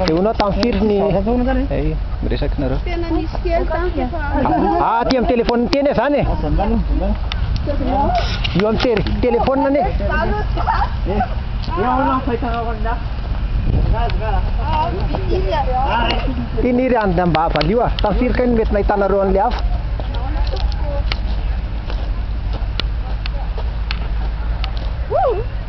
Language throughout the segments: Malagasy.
Dia honao tamin'ny firy ny eh, miresaka nareo? Tena nisy kely tamin'ny efa Ah, aty amin'ny telefaoniny teny e, zany e. Io amin'ny tele- telefaonina anie. Ty niry any mba avalio ah. Tamin'ny firy kay no mety nahitanareo an'ilay hafa?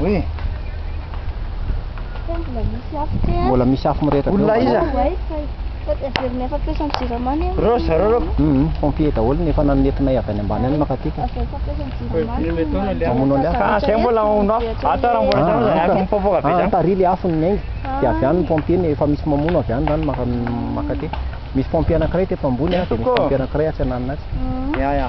Oui. Mbola misy afo te. Mbola misy afo mirehitra. Olona iza? Reo zareo reo. Mhm, pompier daholo ny efa nanetinay avy any ambany any makatika. Mamono an'ilay afo. Ah, zay mbola mamono afo. Ato raha mbola zao zay afo mipopoka be zany. Tary ilay afo ny nenga. Dia avy any ny pompier ny efa misy mamono avy any zany maka makaty. Misy pompier anankiray teto ambony, dia misy pompier anankiray atsy ananona atsy. Ya ya.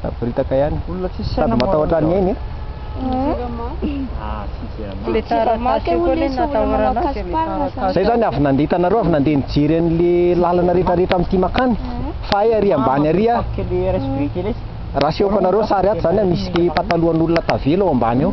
Saboritaka ihany. Olona tsisy saina Sady matahotra an'i Neny. Ah, tsy izay anao. Le taratasy io koa le natahoranao dia le taratasy. Zay zany avy nandeha hitanareo avy nandeha nijery an'le lalana rehetra rehetra amin'ity makany fa hay ary ambany ary ah. Tapaka le resy biriky lesy. Rasehoko anareo sary ato zany ah misy le patalohan'olona tavela ao ambany ao.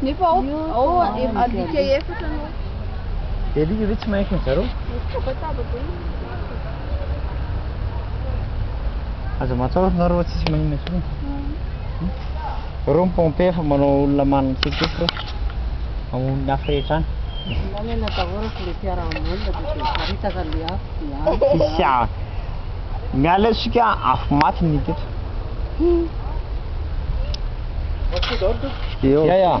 Nefa ao, ao adika efatra no. Dia ry ry tsy mahefa ny zareo. Tabataba be. Aza matahotra nareo fa tsisy maninona intsony. Reo ny pompe efa manao olona manana tsetsefo reo. Amoron'ny afo rehetra any. Lany na daholo fa le fiarahamonina dia paritaka an'le afo dia afo. Tsisy afo. Miala isika afo maty ny teto. Eo. Ya ya.